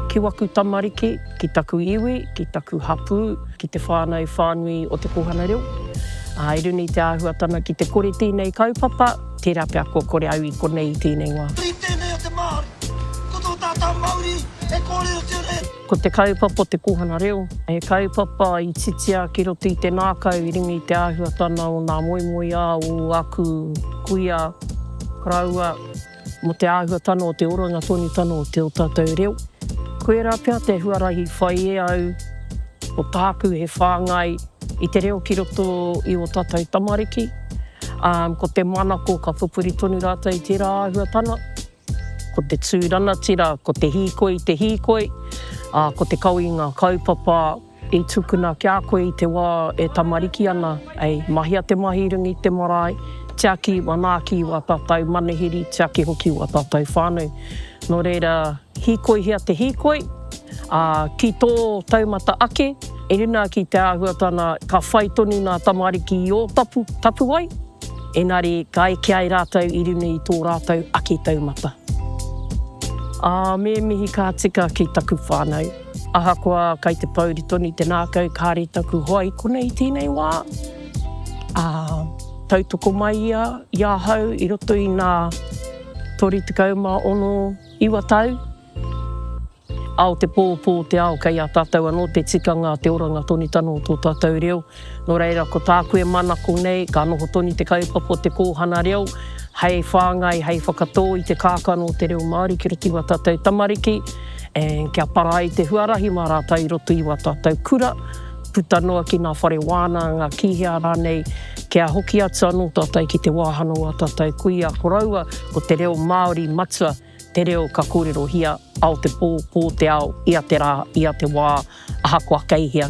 Ki waku tamariki, ki taku iwi, ki taku hapū, ki te whānau whānui o te kōhanga reo. I runga i te āhuatanga ki te kore tēnei kaupapa, tērā pea kua kore au i konei i tēnei wā. Tēnei o te Māori, ko tō tātau mauri e kōrerotia nei. Ko te kaupapa o te kōhanga reo, he kaupapa i titia ki roto i te ngākau i runga i te āhuatana o ngā moemoeā o aku kuia rāua mō te āhuatana o te oranga tonutanga o te o tātou reo. Koirā pea te huarahi whai e au ko tāku he whāngai i te reo ki roto i o tātou tamariki, ā, ko te manako ka pupuri tonu rātou i tērā āhuatana. Ko te tū ranatira, ko te hīkoi, te hīkoi, ā, ko te kawenga kaupapa i tukuna ki a koe i te wā e tamariki ana, hei mahia te mahi runga i te marae, tiaki manaaki i wā tātou manuhiri, tiaki hoki i wā tātou whānau. Nō reira, hīkoihia te hīkoi, ā, ki tō taumata ake, inā ki te āhuatana ka whai tonu ngā tamariki i ō tapu, tapuwae, Engari, ka eke ai rātou i runga i tō rātou ake taumata. Ā, me mihi ka tika ki taku whānau. Ahakoa kei te pōuri tonu te ngākau, kāore taku hoa i kona i tēnei wā, ā, tautoko mai ia i ahau i roto i ngā 36, iwa tau. Ao te pō, pō te ao, kei a tātou anō te tikanga a te oranga tonutanga o tō tātou reo. Nō reira, ko tāku e manako nei, ka noho tonu te kaupapa o te kōhana reo, hei whāngai, hei whakatō i te kākano o te reo Māori ki roto i wā tātou tamariki, and kia para ai te huarahi mā rātou i roto i wā tātou kura, puta noa ki ngā whare wānanga, ngā kīhea rānei, kia hoki atu anō tātou ki te wāhanga o ā tātou kuia, koroua, ko te reo Māori matua. Te reo ka kōrerohia, ao te pō, pō te ao, ia te rā, ia te wā, ahakoa kei hea.